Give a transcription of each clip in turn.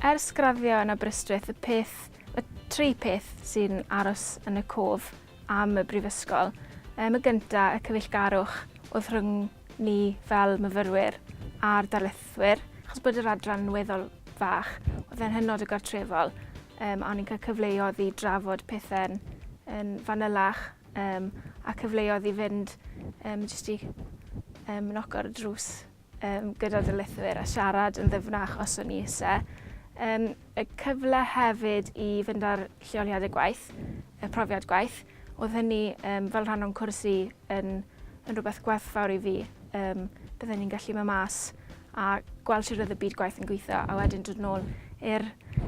Ers graddio yn Aberystwyth, y peth, y tri peth sy'n aros yn y cof am y brifysgol. Ym y gynta, y cyfeillgarwch oedd rhwng ni fel myfyrwyr a'r darlithwyr, achos bod yr adran yn weddol fach, oedd e'n hynod o gartrefol, um, a o'n i'n cael cyfleoedd i drafod pethau'n yn fanylach, um, a cyfleoedd i fynd um, jyst i um, noco ar y drws um, gyda darlithwyr a siarad yn ddyfnach os o'n i eisiau. Um, y cyfle hefyd i fynd ar lleoliadau gwaith, y profiad gwaith. Oedd hynny um, fel rhan o'n cwrs i yn, yn rhywbeth gwerthfawr i fi. Um, byddwn ni'n gallu mynd mas a gweld sut oedd y byd gwaith yn gweithio a wedyn dod nôl i'r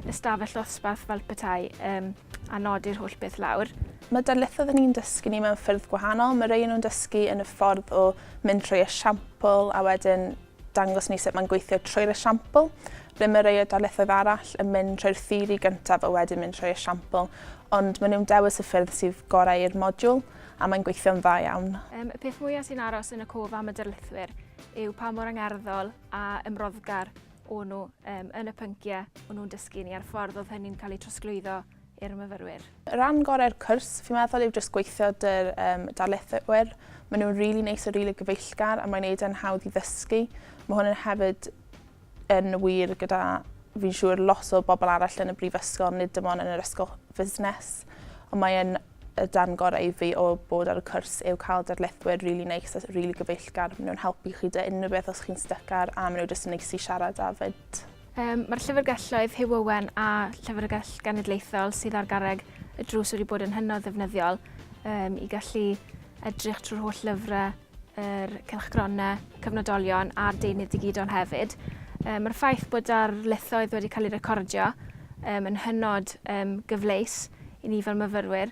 ystafell ddosbarth fel petai um, a nodi'r holl beth lawr. Mae darlithoedd yn ni'n dysgu ni mewn ffyrdd gwahanol. Mae rei nhw'n dysgu yn y ffordd o mynd trwy esiampl a wedyn Dangos ni sut mae'n gweithio trwy'r esiampl. Ble mae rhai o darlithoedd arall yn mynd trwy'r theori gyntaf a wedyn mynd trwy'r esiampl, ond maen nhw'n dewis y ffyrdd sydd gorau i'r modiwl, a mae'n gweithio'n dda iawn. Um, y peth mwyaf sy'n aros yn y cof am y darlithwyr yw pa mor angerddol a ymroddgar o'n nhw um, yn y pynciau o'n nhw'n dysgu ni a'r ffordd oedd hynny'n cael ei trosglwyddo i'r myfyrwyr. Rhan gorau'r cwrs fi'n meddwl yw jyst gweithio dy'r um, darlithwyr. Maen nhw'n rili really neis a rili really gyfeillgar a mae'n neud e'n hawdd i ddysgu. Mae hwn yn hefyd yn wir gyda fi'n siŵr lot o bobl arall yn y brifysgol, nid dim ond yn yr ysgol fusnes. Ond mae'n y dan gorau i fi o bod ar y cwrs yw cael darlithwyr rili really neis a rili really gyfeillgar. Maen nhw'n helpu chi dy unrhyw beth os chi'n stycar a maen nhw jyst yn neis i siarad a fyd. Yym, mae'r Llyfrgelloedd Hugh Owen a Llyfrgell Genedlaethol sydd ar garreg y drws wedi bod yn hynod ddefnyddiol um, i gallu edrych trwy'r holl lyfrau, yr cylchgronau, cyfnodolion a'r deunydd digidol hefyd. Um, Mae'r ffaith bod ar lethoedd wedi cael ei recordio um, yn hynod um, gyfleus i ni fel myfyrwyr